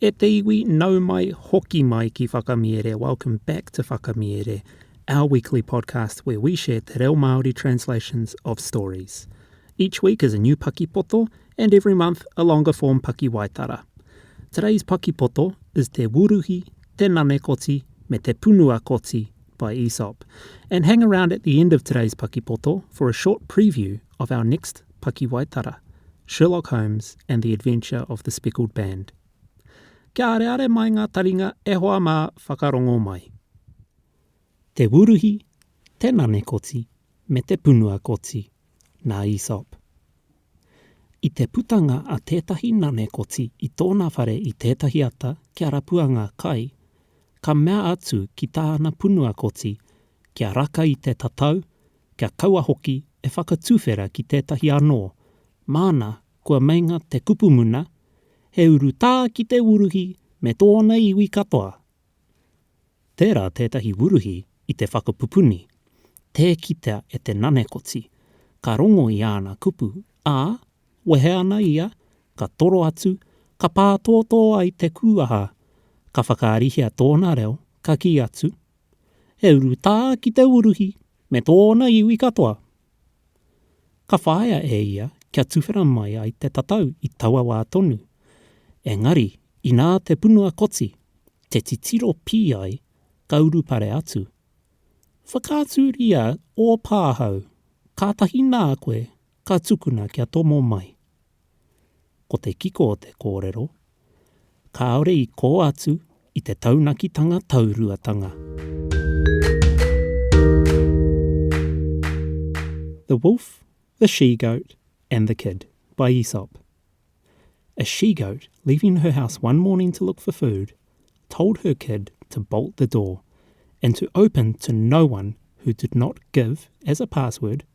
E te iwi, nau mai, hoki mai ki Whakamiere, welcome back to Whakamiere, our weekly podcast where we share te reo Māori translations of stories. Each week is a new pakipoto and every month a longer form pakiwaitara. Today's pakipoto is Te Wuruhi, Te Nane Koti me Te Punua Koti by Aesop. And hang around at the end of today's pakipoto for a short preview of our next Pakiwaitara, Sherlock Holmes and the Adventure of the Speckled Band. Kia areare mai ngā taringa e hoa mā whakarongo mai. Te Wuruhi, te Nane Koti, me te Punua Koti, nā Aesop. I te putanga a tētahi nane koti i tōna whare i tētahi ata kia rapua ngā kai, ka mea atu ki tāna punua koti kia raka i te tatau kia kaua hoki e whakatuwhera ki tētahi anō, māna kua meinga te kupu muna, he urutā ki te wuruhi me tōna iwi katoa. Tērā tētahi wuruhi i te whakapupuni, tē kitea e te nanekoti, ka rongo i āna kupu, ā, wehe ana ia, ka toro atu, ka pātōtō ai te kūaha, ka whakaarihia tōna reo, ka kī atu, e urutā ki te uruhi me tōna iwi katoa. Ka whāia e ia kia tuwhera mai ai te tatau i taua wā tonu, engari inā te punua koti, te titiro pī ai, ka urupare atu. Whakaaturia ō pāhau, kātahi nā koe ka tukuna kia tomo mai. Ko te kiko o te kōrero, kāore i kō atu i te taunakitanga tauruatanga. The Wolf, the She-Goat, and the Kid, by Aesop A she-goat, leaving her house one morning to look for food, told her kid to bolt the door, and to open to no one who did not give, as a password,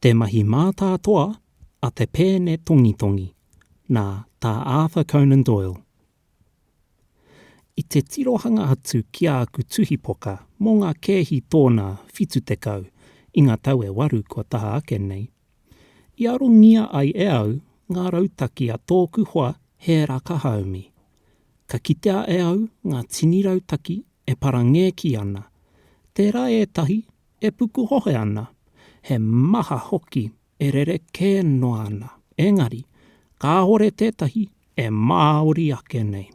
Te mahi mātātoa a te pēne tongitongi nā Tā Arthur Conan Doyle. I te tirohanga atu ki āku tuhipoka mō ngā kēhi tōnā 70 i ngā tau e waru kua taha ake nei, i arongia ai e au ngā rautaki a tōku hoa Hēra Kahaumi. Ka kitea e au ngā tini rautaki e parangēki ana, tērā ētahi E pukuhohe ana, he maha hoki e rerekē noa ana, engari, kāore tētahi e māori ake nei.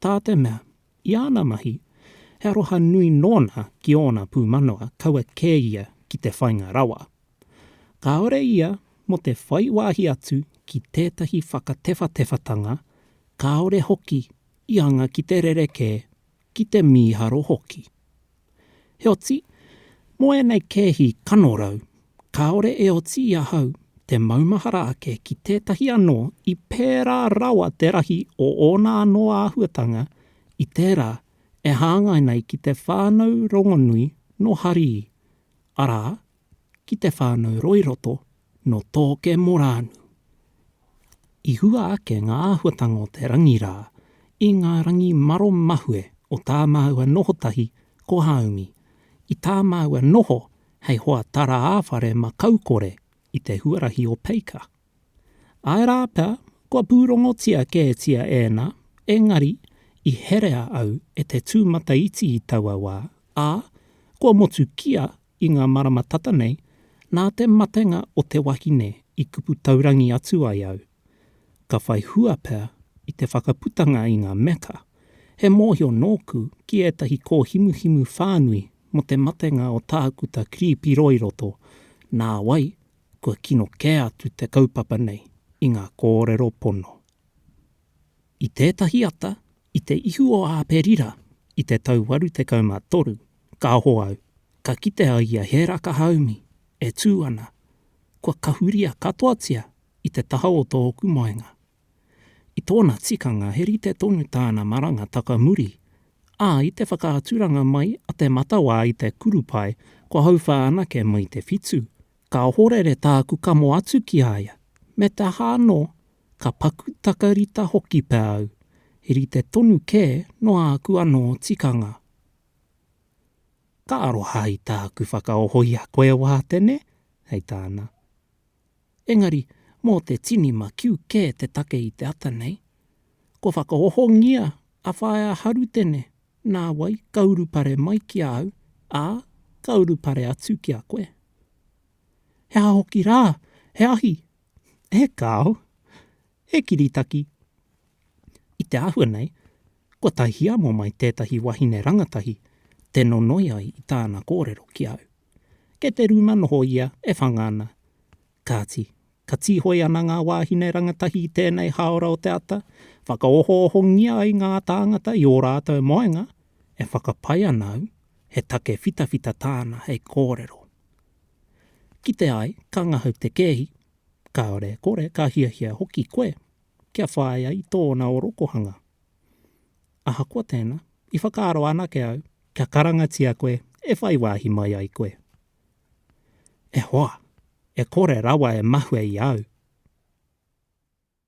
Tā te mea, i āna mahi, he aroha nui nōna ki ōna pūmanawa kaua kē ia ki te whainga rawa. Kāore ia mō te whai wāhi atu ki tētahi whakatewhatewhatanga, kāore hoki i anga ki te rerekē ki te mīharo hoki. Heoti, mō ēnei kēhi kanorau, kāore e oti i ahau te maumahara ake ki tētahi anō i pērā rawa te rahi o ōna anō āhuatanga i tērā e hāngai nei ki te whānau rongonui nō Harii, arā, ki te whānau Roiroto nō Tōke Morānu. I hua ake ngā āhuatanga o te rangi rā i ngā rangi maro mahue o tā māua noho tahi ko Haumi, i tā māua noho hei hoa tara-ā-whare makaukore i te huarahi o Peika. Āe rā pea, kua pūrongotia kētia ēnā, engari i herea au e te tūmataiti i taua wā, ā, kua motukia I ngā marama tata nei, nā te matenga o te wahine i kupu taurangi atu ai au. Ka whai hua pea i te whakaputanga i ngā meka, he mōhio nōku ki ētahi kōhimuhimu whānui mō te matenga o Tākuta Kiripi Roiroto, nā wai, kua kino kē atu te kaupapa nei i ngā kōrero pono. I tētahi ata, i te ihu o Āperira, i te tau waru tekau mā toru, ka aho au, ka kite au i a Hēraka haumi, e tū ana, kua kahuria katoatia i te taha o tōku moenga. I tōna tikanga he rite tonu tāna maranga taka muri, ā, i te whakaaturanga mai a te matawā i te kurupae kua hauwha anake mai te whitu, ka ohorere tāku kamo atu ki a ia, me te aha anō, ka paku takarita hoki pea au, he rite tonu kē noa aku anō tikanga. Ka aroha i tāku whakaoho i a koe Wātene, hei tāna. Engari, mō te tini makiu kē te take i te ata nei. Kua whakaohongia a Whaea Harutene, nā wai ka urupare mai ki a au, ā, ka urupare atu ki a koe. He aha hoki rā, he ahi he kāo, he kiritaki. I te āhua nei, kua tae hiamo mai tētahi wahine rangatahi te nonoi ai i tāna kōrero ki au. Kei te rūma noho ia e whanga ana. Kāti, ka tīhoi ana ngā wāhine rangatahi i tēnei hāora o te ata, whakaohoohongia ai ngā tāngata i ō rātou moenga, e whakapae ana au he take whitawhita tāna hei kōrero. Kite ai, ka ngahau te kēhi, kāore e kore, ka hiahia hoki koe kia whāia i tōna orokohanga. Ahakoa tēnā, i whakaaro anake au, kia karangatia koe e whai wāhi mai ai koe. E hoa, e kore rawa e mahue i au!